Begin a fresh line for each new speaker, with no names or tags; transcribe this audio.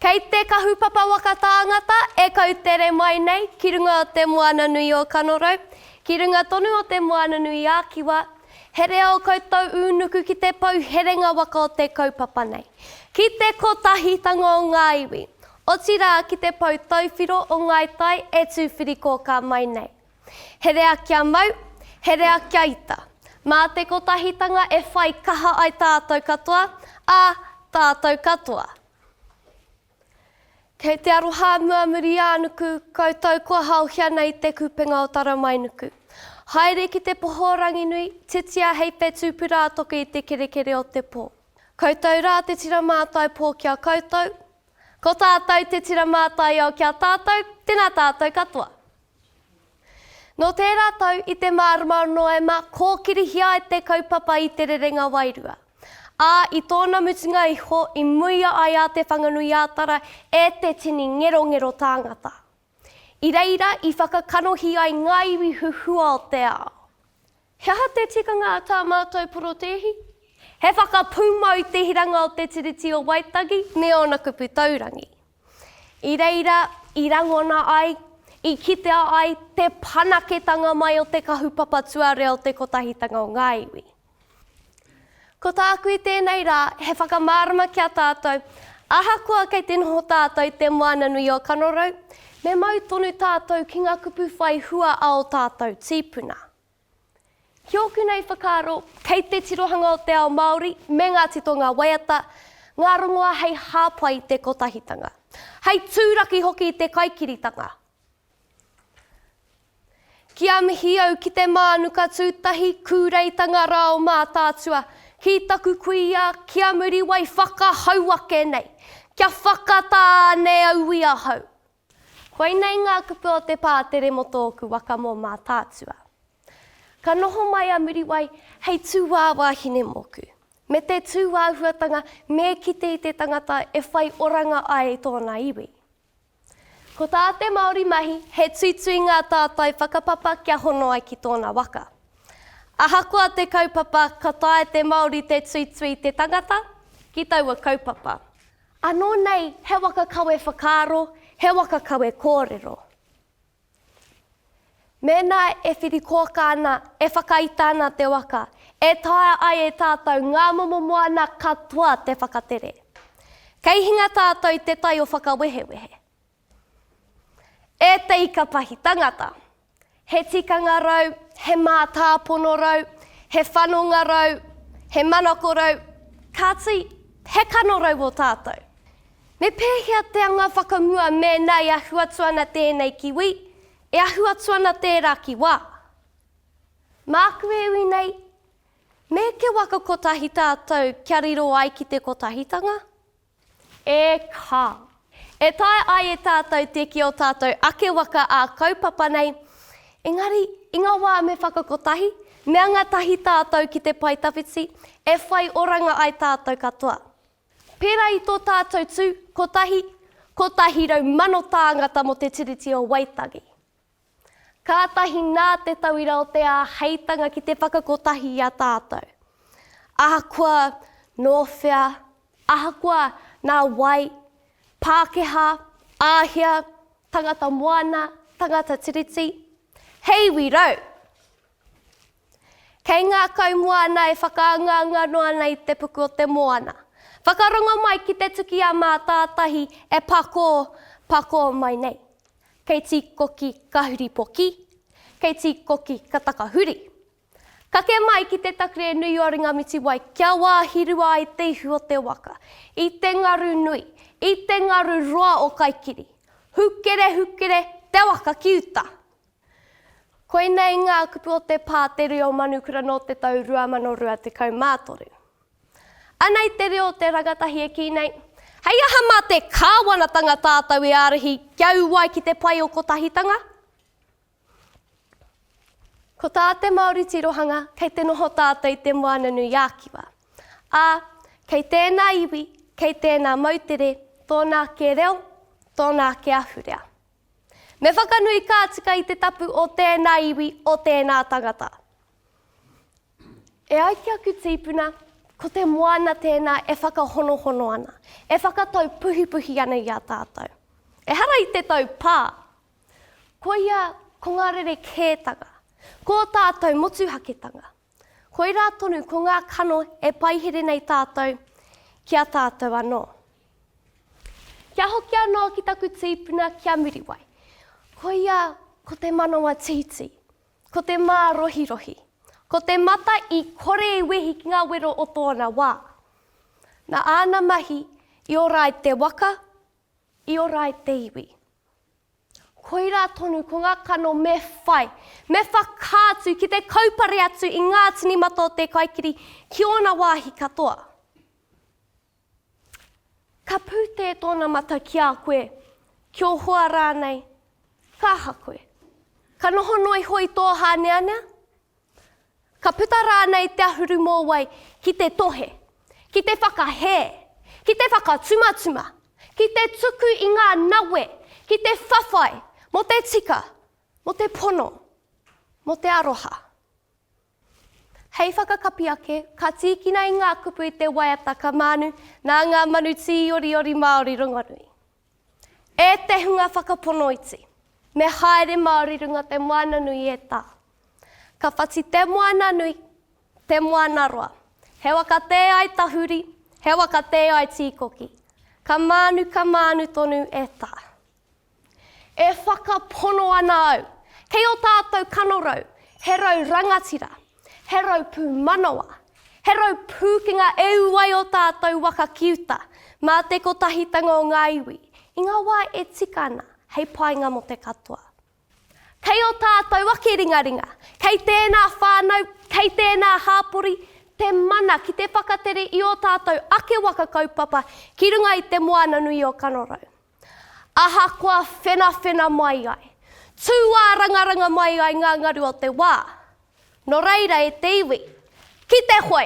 Kei te kahupapa waka tāngata e kautere mai nei ki runga o Te Moana Nui o Kanorau, ki runga tonu o Te Moana Nui ā Kiwa, he reo koutou ū nuku ki te pou herenga waka o te kaupapa nei, ki te kotahitanga o ngā iwi, otirā ki te pou tauwhiro o Ngāi Tai e tūwhirikōkā mai nei. Herea kia mau, herea kia ita. Mā te kotahitanga e whai kaha ai tātou katoa, ā, tātou katoa. Kei te aroha a Muamuriānuku, koutou kua haohia nei i te kupenga o Taramainuku. Haere ki te poho o Ranginui, titia hei te tūpura a toke i te kerekere o te pō. Koutou rā te tira mātai pō ki a koutou, ko tātou te tira mātaiao ki a tātou, tēnā tātou katoa. Nō tērā tau i te marama o Noema kōkirihia ai te kaupapa i Te Rerenga Wairua, ā, i tōna mutunga iho i muia ai a Te Whanganui-ā-Tara e te tini ngerongero tāngata. I reira i whakakanohi ai ngā iwi huhua o te ao. He aha te tikanga a tā mātou porotēhi? He whakapūmau te hiranga o te Tiriti o Waitangi me ōna kupu taurangi. I reira i rangona ai, i kitea ai te whanaketanga mai o te kahupapa tuarua o te Kotahitanga o ngā Iwi. Ko tāku i tēnei rā, he whakamārama ki a tātou, ahakoa kei te noho tātou i te moana nui o Kanorau, me mau tonu tātou ki ngā kupu whai hua a ō tātou tīpuna. Ki ōku nei whakaaro, kei te tirohanga o te ao Māori me ngā titonga waiata, ngā rongoa hei hāpai te kotahitanga. Hei tūraki hoki i te kaikiritanga. Ki a mihi au ki te mānuka tūtahi kūreitanga rā o Mātaatua, ki taku kuia, ki a Muriwai whakahau ake nei, kia whakatā anei auī ahau. Koinei ngā kupu o te pātere mō tōku waka mō Mātaatua. Ka noho mai a Muriwai hei tūāwāhine mōku, me te tūāhuatanga me kite i te tangata e whai oranga ai tōna iwi. Ko tā te Māori mahi he tuitui ngā tātai whakapapa kia hono ai ki tōna waka. Ahakoa te kaupapa ka taea te Māori te tuitui te tangata ki taua kaupapa. Anō nei he waka kawe whakaaro, he waka kawe kōrero. Mēnā e whiri kōkā ana, e whakaita ana te waka, e taea ai e tātou ngā momo moana katoa te whakatere. Kei hinga tātou te tai o whakawehewehe. E te ikapahi tangata. He tikanga rau, he mātāpono rau, he whanonga rau, he manako rau, kāti, he kanorau o tātou. Me pēhea te anga whakamua mēnā e ahu atu ana tēnei ki wī, e ahu atu ana tērā ki wā? Māku e ui nei, me ke waka kotahi tātou kia riro ai ki te kotahitanga, E kā! E taea ai e tātou te kī ō tātou ake waka ā-kaupapa nei, engari, i ngā wā me whakakotahi, me anga tahi tātou ki te pae tawhiti, e whai oranga ai tātou katoa. Pērā i tō tātou tū, kotahi, 100,000 tāngata mō te Tiriti o Waitangi. Kātahi nā te tauira o te āheitanga ki te whakakotahi i a tātou. Ahakoa nō whea, ahakoa nā wai, Pākehā, Āhia, tangata moana, tangata tiriti, he iwi rau! Kei ngā kaumoana e whakaangaanga noa nei te puku o te moana. Whakarongo mai ki te tuki a Mātātahi e pakō, pakō mai nei. Kei Tīkoki ka huri poki, kei Tīkoki ka takahuri. Kake mai ki te takere nui o Ringamitiwai kia wāhirua ai te ihu o te waka, i te ngaru nui, i te ngaru roa o Kaikiri. Hukere, hukere, te waka ki uta! Koinei ngā kupu o te pā Te Reo Manukura nō te tau 2023. Ana i te reo o te rangatahi e kī nei, Hei aha mā te Kāwanatanga tātou e ārahi kia ū ai ki te pai o Kotahitanga? Ko tā te Māori tirohanga kei te noho tātou i te Moana-nui-ā-Kiwa, ā, kei tēnā iwi, kei tēnā moutere tōna ake reo, tōna ake ahurea. Me whakanui ka tika i te tapu o tēnā iwi, o tēnā tangata. E ai ki aku tīpuna, ko te moana tēnā e whakahonohono ana, e whakatau puhipuhi ana i a tātou. Ehara i te tau pā, koia ko ngā rerekētanga, ko ō tātou motuhaketanga. Koirā tonu ko ngā kano e paihere nei tātou ki a tātou anō. Kia hoki anō ki taku tīpuna ki a Muriwai. Koia ko te manawa tītī, ko te mārohirohi, ko te mata i kore i wehi ki ngā wero o tōna wā. Nā āna mahi i ora ai te waka, i ora ai te iwi. Koirā tonu ko ngā kano me whai, me whakaatu ki te kaupare atu i ngā tini mata o te kaikiri ki ōna wāhi katoa. Ka pūtē tōna mata ki a koe, ki ō hoa rānei, ka aha koe? Ka noho noa iho i tō hāneanea? Ka puta rānei te ahurumōwai ki te tohe, ki te whakahē, ki te whakatumatuma, ki te tuku i ngā nawe, ki te whawhai mō te tika, mō te pono, mō te aroha? Hei whakakapi ake, ka tīkina i ngā kupu i te waiata ka mānu nā ngā manu tīoriori Māori rongonui. E te hunga whakaponoiti, me haere Māori runga te moana nui e tā. Ka whati te moana nui, te moana roa. He wa ka tē ai tahuri, he wa ka tē ai tīkoki. Ka mānu, ka mānu tonu e tā. E whakapono ana au, kei o tātou kanorau, he rau rangatira, He rau pū manawa, he rau pūkenga e ū ai ō tātou waka ki uta, mā te kotahitanga o ngā iwi, i ngā wā e tika ana, hei painga mō te katoa. Kei ō tātou ake ringaringa, kei tēnā whānau, kei tēnā hāpori, te mana ki te whakatere i ō tātou ake waka kaupapa ki runga i te Moana-nui-o-Kanorau. Ahakoa whenawhena mai ai, tūārangaranga mai ai ngā ngaru o te wā, nō reira e te iwi, ki te hoe!